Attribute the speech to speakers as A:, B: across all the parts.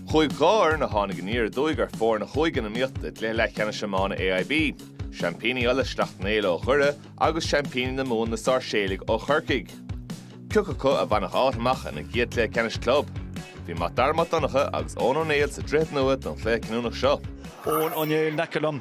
A: Chuaigh dhá fhoireann a tháinig aniar aduaidh ar fóirne in iomaíocht i gcluiche leathcheannais iomána AIB, seaimpíní Uladh Sleacht Néill ó Dhoire agus seaimpíní na Mumhan na Sáirséalaigh ó Chorcaigh. Cé acu a bhainfeadh áit amach ina gcéad cluiche ceannais club. Bhí Mac Dara Mac Donncha agus Eoghan Ó Néill sa Droichead Nua don chluiche cinniúnach seo. Eoghan Ó Néill in aice liom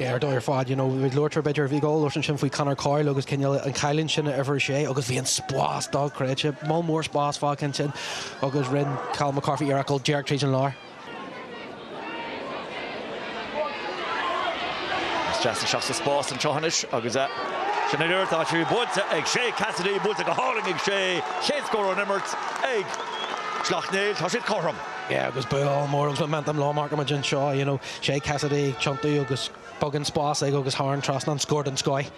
A: Ar dóigh ar fad, you know, luaitear, b'fhéidir, bhí ghabháil ansin faoi Conor Coyle agus cineál an chailín sin uimhir a sé agus bhí an spás dá gcreidte, moll mór spáis fágtha ansin agus rinne Colm McCarthy iarracht ghabháil díreach tríd an lár. Is deas isteach sa spás anseo anois agus é. Sin an uair atá sé buailte ag Shay Cassidy, buailte go hálainn ag Shay, chéad scór ón imirt ag Slaughtneil, tá siad cothrom. Yeah, agus baol mór agus momentum lá mar amuigh anseo, you know, Shay Cassidy ag tiontú agus beagán spáis aige agus thar an trasnán scór den scoth.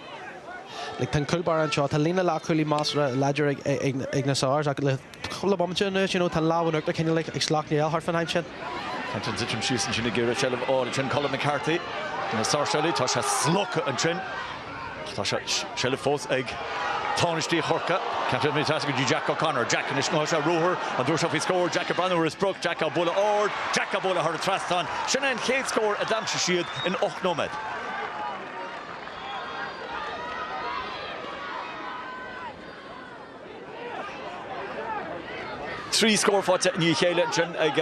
A: Like tá an cúl báire anseo. Tá líne leathchúlaithe measartha láidir ag na Sars ach le cúpla bomaite anuas you know tá an lámh in uachtar cineál like ag Sleacht Néill thart fán am sin. Caint an dtitim síos ansin ag iarraidh seilbh a fháil. Ansin Colm McCarthy do na Sáirséalaigh. Tá sé slogtha ansin. Ach tá seilbh fós ag tánaistí Chorcaí. Ceantar na Teasa go dtí Jack O'Connor. Jack anois suas ar ruathar an dúir seo faoi scór. Jack ag breathnú ar a sprioc. Jack á bualadh ard. Jack á bualadh thar an trasnán. Sin é an chéad scór a d'aimsigh siad in ocht nóiméad. Trí scór faighte i ndiaidh a chéile ansin ag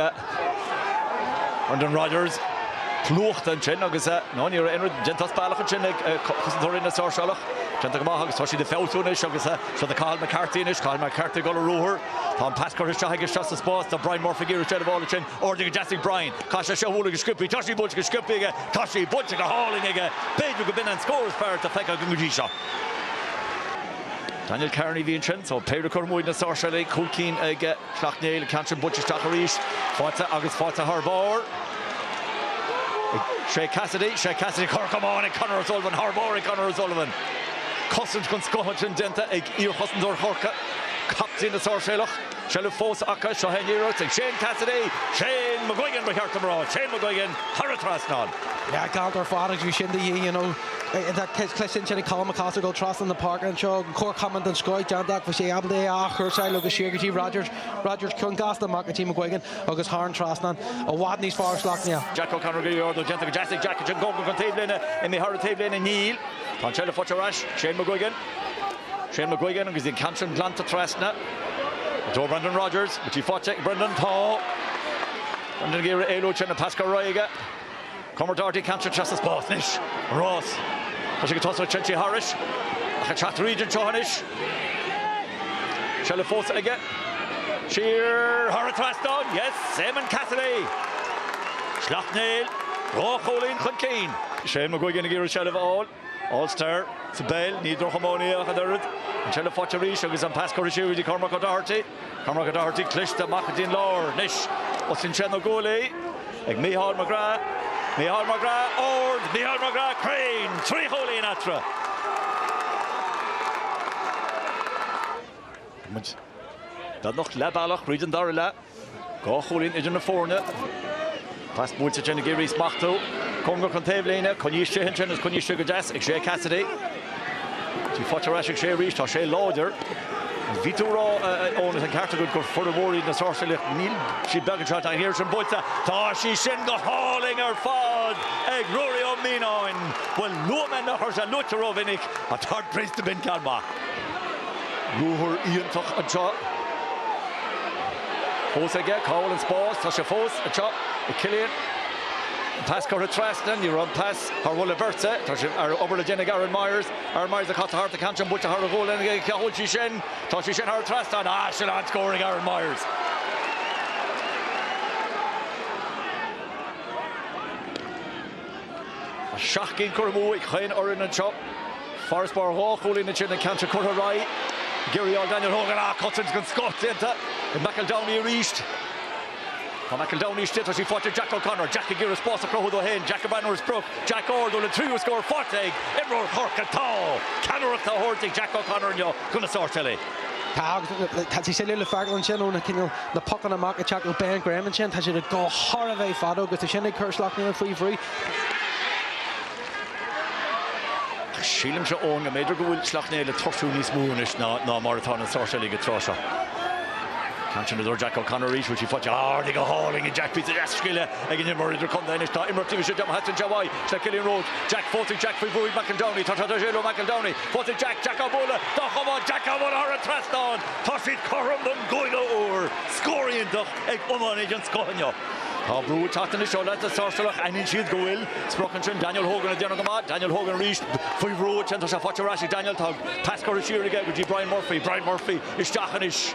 A: Brendan Rodgers. Plúchta ansin agus, no, ní raibh aon dul as bealach ansin ag cosantóirí na Sáirséalach. Déanta go maith agus tá siad ag feabhsú anois agus seo é Cathal McCarthy anois, Cathal McCarthy ag dul ar ruathar. Tá an pas curtha isteach aige seo sa spás do Brian Murphy ag iarraidh sé an ball ansin. Ardaithe go deas ag Brian. Caithfidh sé seo a bhualadh go sciobtha. Tá sí buailte go sciobtha aige. Tá sí buailte go hálainn aige. B'fhéidir go b'in an scór is fearr atá feicthe againn go dtí seo. Daniel Kearney a bhí ansin so péire curtha amú ag na Sáirséalaigh cúl cinn ag Sleacht Néill, an ceann sin buailte isteach arís, faighte agus faighte thar barr ag Shay Cassidy, Shay Cassidy, curtha amach ag Conor O'Sullivan, thar barr ag Conor O'Sullivan. Cosaint den scoth ansin déanta ag iarchosantóir Chorcaí, captaen na Sáirséalach. Seilbh fós acu, seo é an iarracht ag Shane Cassidy, Shane McGuigan ba cheart dom a rá, Shane McGuigan thar an trasnán. Galánta ar fad agus bhí sin de dhíth, you know, tá cluiche sin sin ag Colm McCausland dul trasna na páirce anseo, an cor camáin den scoth déanta ach bhí sé ábalta é a athchúrsáil agus siar go dtí Rodgers, Rodgers ceann gasta amach go dtí McGuigan agus thar an trasnán, i bhfad níos fearr is leath gné. Jack O'Connor go leor dul déanta go deas ag Jack, Jim Goulding chun taobh líne, imithe thar an taobh líne, níl. Tá an tseilbh faighte ar ais, Shane McGuigan. Shane McGuigan agus Dean Cantrell glan trasna. Tóg Brendan Rogers, tá sí faighte ag Brendan. Tá Brendan ag iarraidh éalú tríd an pas curtha ar aghaidh aige. Cormac O'Doherty Cantrell trasna spás anois. An rás. Tá sé chun tosaigh Trenty Harris ach ag teacht tríd anseo anois. Seilbh fós aige. Siar thar an trasnán. Yes, Éamonn Cassidy. Sleacht Néill, dhá chúilín chun cinn. Shane McGuigan ag iarraidh seilbh a fháil. All-Star sa bpeil, ní drochiománaí ach an oiread. An tseilbh faighte arís agus an pas curtha siar go dtí Cormac O'Doherty. Cormac O'Doherty cliste amach go dtí an lár anois. Oscail sé na guaillí ag Micheál McGrath. Micheál McGrath ard, Micheál McGrath cruinn, trí chúilín eatarthu. Tá muid beagnach leath bealach tríd an dara leath. Dhá chúilín idir na foirne. Pas buailte sin ag iarraidh í a smachtú. Cóngarach don taobhlíne. Coinníonn sé istigh ansin is coinníonn sé go deas ag Shay Cassidy. Tá sí faighte ar ais ag Shay arís. Tá Shay láidir. Bhí tú ag rá Eoin tá an ceart agad gur fir mhóra iad na Sáirséalaigh. Níl siad beag anseo. Ach tá an iarracht sin buailte. Tá sí sin go hálainn ar fad ag Ruairí Ó Mianáin. Bhuel luaigh mé nach raibh sé luaite rómhinic ach tá an puc sin b'in ceann maith. Ruathar iontach anseo. Fós aige, cá bhfuil an spás? Tá sé fós anseo ag Cillian. An pas curtha trasna, ní raibh an pas thar mholadh beirte. Tá obair le déanamh ag Aaron Myers. Aaron Myers ag casadh thart an ceann sin buailte thar a ghualainn aige, cá bhfuil sí sin? Tá sí sin thar an trasnán. Ah, sin an-scór ag Aaron Myers! Seacht gcinn curtha amú ag chaon fhoireann anseo. Farasbarr dhá chúilín ansin, an ceann seo curtha ar aghaidh ag iarraidh aimsiú Daniel Hogan. Ah, cosaint den scoth déanta ag McEldowney arís. Tá McEldowney istigh, tá sí faighte ag Jack O'Connor. Jack ag iarraidh spás a chruthú dó féin. Jack ag bualadh ar an sprioc Jack ard, dhá, an tríú scór faighte ag imreoir Chorcaí. Tá ceannaireacht á thabhairt ag Jack O'Connor inniu do na Sáirséalaigh. Tá sé le feiceáil ansin ó na pocanna amach ag teacht ó Ben Graham ansin, tá siad ag dul thar a bheith fada agus é sin ag cur Sleacht Néill faoi bhrú. Sílimse, Eoin, go mb'fhéidir go bhfuil Sleacht Néill ag tuirsiú níos mó anois ná mar atá na Sáirséalaigh an tráth seo. Ceann sin i dtreo Jack O'Connor arís, bhfuil sí faighte ag Jack Bhí deas-scil ag an imreoir idirchontae anois tá imreacht dílis ag Dom Haitch an Jabhai is le Killian Rhodes. Jack Fótaigh Jack faoi bhrú ag McEldowney tá tráth ar Jay Lo McEldowney. Faighte ag Jack Jack á bhualadh. Go maith Jack á bhualadh thar an trasnán, tá siad cothrom don gcúigiú uair. Scór iontach ag iománaí den scoth inniu. Tá brú ag teacht anois ó leaids na Sáirséalach. Aithníonn siad go bhfuil sprioc ansin. Daniel Hogan ag déanamh go maith. Daniel Hogan arís faoi bhrú ansin. Tá sé faighte ar ais ag Daniel. Tá pas curtha siar aige go dtí Brian Murphy. Brian Murphy isteach anois.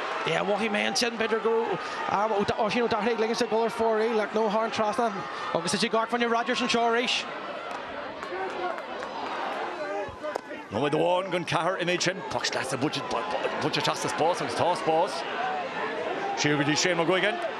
A: Yeah, mhothaigh mé ansin b'fhéidir go raibh am Oisín Ó Dochartaigh ag ligint a dhul ar fóraoil ach nó tharraing trasna agus is í Gort Brendan Rogers anseo arís. Nóiméad amháin gan ceathair in éid sin, poc sleasa buailte isteach sa spás agus tá spás. Siar go dtí Shane McGuigan.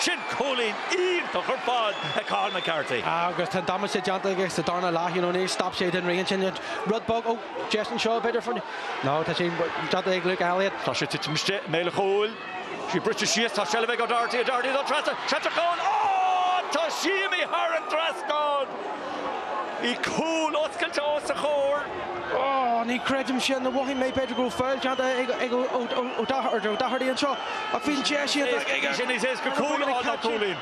A: Sin cúilín iontach ar fad ag Cathal McCarthy. Agus tá damaiste déanta aige sa darna leath, you know, níor stop sé den rith ansin. Rud beag ó Justin Shaw b'fhéidir for, no, tá sé déanta ag Luke Elliot. Tá sé titim istigh i mbéal an chúil. Sí briste síos, tá seilbh ag O'Doherty, O'Doherty don trasach, trasach ann, oh! Tá sí imithe thar an trasnán! Bhí cúl oscailte os a chomhair. Oh ní creidim sin nó mhothaigh mé b'fhéidir go raibh feall déanta ag Ó Doherty anseo ach bhí an deis iontach aige. Bhí sé níos éasca cúl a fháil ná cúilín.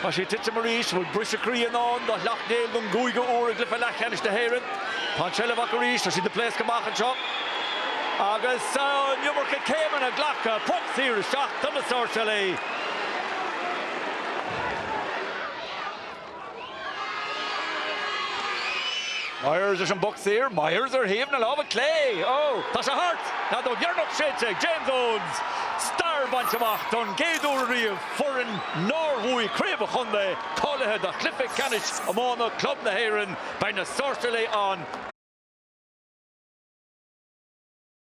A: Tá sé ag titim arís. Bhfuil briseadh croí i ndán do Shleacht Néill don gcúigiú uair i gcluiche leathcheannais na hÉireann? Tá an tseilbh acu arís. Tá siad ag pléascadh amach anseo. Agus an iomarca céimeanna glactha. Poc saor isteach do na Sáirséalaigh. Myers leis an bpoc saor, Myers ar thaobh na láimhe clé, ó tá sé thart! An fheadóg dheireanach séidte ag James Owens! Stair bainte amach don gcéad uair ariamh, foireann nár bhuaigh craobh an chontae cáilithe do chluiche ceannais iomána club na hÉireann. Beidh na Sáirséalaigh an.